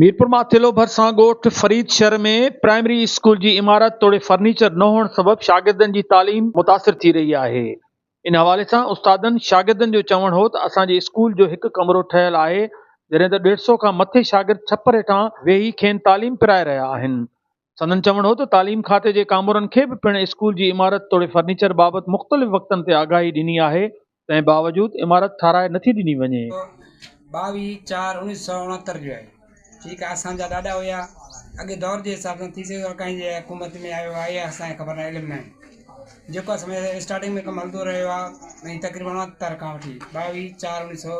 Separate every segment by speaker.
Speaker 1: ميرپور ماٿيلو ڀرسان ڳوٺ فريد شھر ۾ پرائمري اسڪول جي عمارت توڙي فرنيچر نه ھئڻ سبب شاگردن جي تعليم متاثر ٿي رھي آھي ان حوالي سان استادن شاگردن جو چوڻ ھو ته اسان جي اسڪول جو ھڪ ڪمرو ٺھيل آھي جڏھن ته ڏيڍ سئو کان مٿي شاگرد ڇپر ھيٺان ويھي کين تعليم پرائي رھيا آھن سندن چوڻ هو ته تعليم کاتي جي ڪامورن کي به پڻ اسڪول جي عمارت توڙي فرنيچر بابت مختلف وقتن تي آگاهي ڏني آهي تنهن باوجود عمارت ٺهرائي نٿي ڏني وڃي. ٻاويهه چار اڻيهه
Speaker 2: سؤ اڻهتر جو آهي ٺيڪ آهي اسان جا ڏاڏا هيا اڳي دور جي حساب سان ٿي سگهي ٿو ڪنهن جي حڪومت ۾ آيو آهي اها اسان کي خبر ناهي علم ناهي جيڪو اسان اسٽارٽنگ ۾ ڪم هلندو رهيو آهي تقريبن اڻهتر کان وٺي ٻاويهه چار اڻيهه سؤ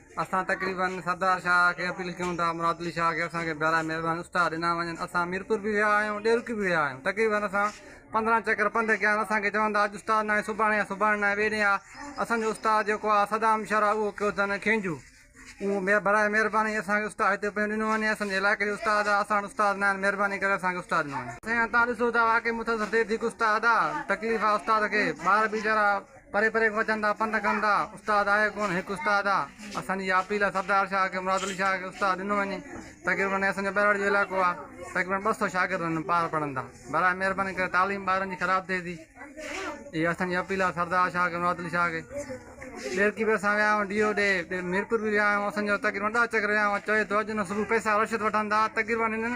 Speaker 3: اسان تقريبن سردار شاهه کي اپيل ڪيون ٿا مراد علي شاهه کي اسان کي براهه مهرباني استاد ڏنا وڃن اسان ميرپور به ويا آهيون ڏيرڪي به ويا آهيون تقريبن اسان پندرهن چڪر پنڌ ڪيا آهن اسان کي چون ٿا اڄ استاد ناهي سڀاڻي آ سڀاڻي ناهي ٻئي ڏينهن آ اسان جو استاد جيڪو آ صدام شر آ اهو ڪيو اٿن کينجو اهو مي براهه مهرباني اسان کي استاد هتي پنهنجو ڏنو وڃي اسان جي علائقي جو استاد آ اسان وٽ استاد ناهن مهرباني ڪري اسان کي استاد ڏنو وڃي سائين تان ڏسو ٿا واقعي متاثر ٿئي ٿي هڪ استاد آ تڪليف آ استاد کي ٻار به ويچارا پري پري کان اچن ٿا پنڌ ڪن ٿا استاد آهي ڪونه هڪ استاد آ اسان جي اها اپيل آ سردار شاهه کي مراد علي شاهه کي استاد ڏنو وڃي تقريبن اسان جو ٻهراڙي جو علائقو آ تقريبن ٻه سو شاگرد هن پار پڙهن ٿا برائي مهرباني ڪري تعليم ٻارن جي خراب ٿئي ٿي اها اسان جي اپيل آ سردار شاهه کي مراد علي شاهه کي ڏيرڪي به اسان ويا آهيون ڊي او ڏي ميرپور به ويا آهيون اسان جو تقريبن ڏهه چڪر ويا آهيون چوي ٿو اڄ نه صبح پئسا رشوت وٺن ٿا تقريبن هنن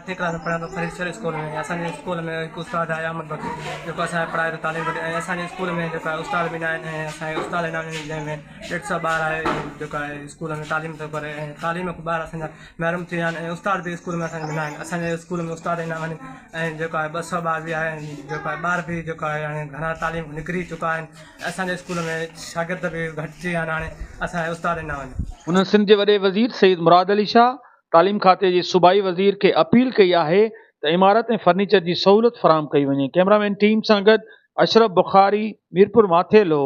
Speaker 4: اٺين ڪلاس ۾ پڙهندو
Speaker 5: فريد شر اسڪول ۾ اسان جي اسڪول ۾ هڪ استاد آهي احمد بخش جيڪو اسان کي پڙهائي ٿو تعليم ٿو ڏي ۽ اسان جي اسڪول ۾ جيڪو آهي استاد به نه آهن ۽ اسان جي استاد هن وقت جنهن ۾ ڏيڍ سئو ٻار آهي جيڪو آهي اسڪول ۾ تعليم ٿو ڪري ۽ تعليم کان ٻار اسان جا محروم ٿي ويا آهن ۽ استاد به اسڪول ۾ اسان جي نه آهن اسان جي اسڪول ۾ استاد هن وقت ۽ جيڪو آهي ٻه سئو ٻار به آهن جيڪو آهي ٻار به جيڪو آهي هاڻي گهڻا تعليم کان نڪري چڪا آهن ۽ اسان جي اسڪول ۾ شاگرد به گهٽ ٿي ويا آهن هاڻي اسان جي استاد نه آهن هنن سنڌ جي وڏي
Speaker 1: وزير سيد مراد علي شاهه تعليم کاتي جي صوبائي وزير کي اپيل ڪئي آهي ته عمارت ۾ فرنيچر جي سهولت فراهم ڪئي وڃي ڪيمرامين ٽيم سان گڏ اشرف بخاري ميرپور ماٿيلو.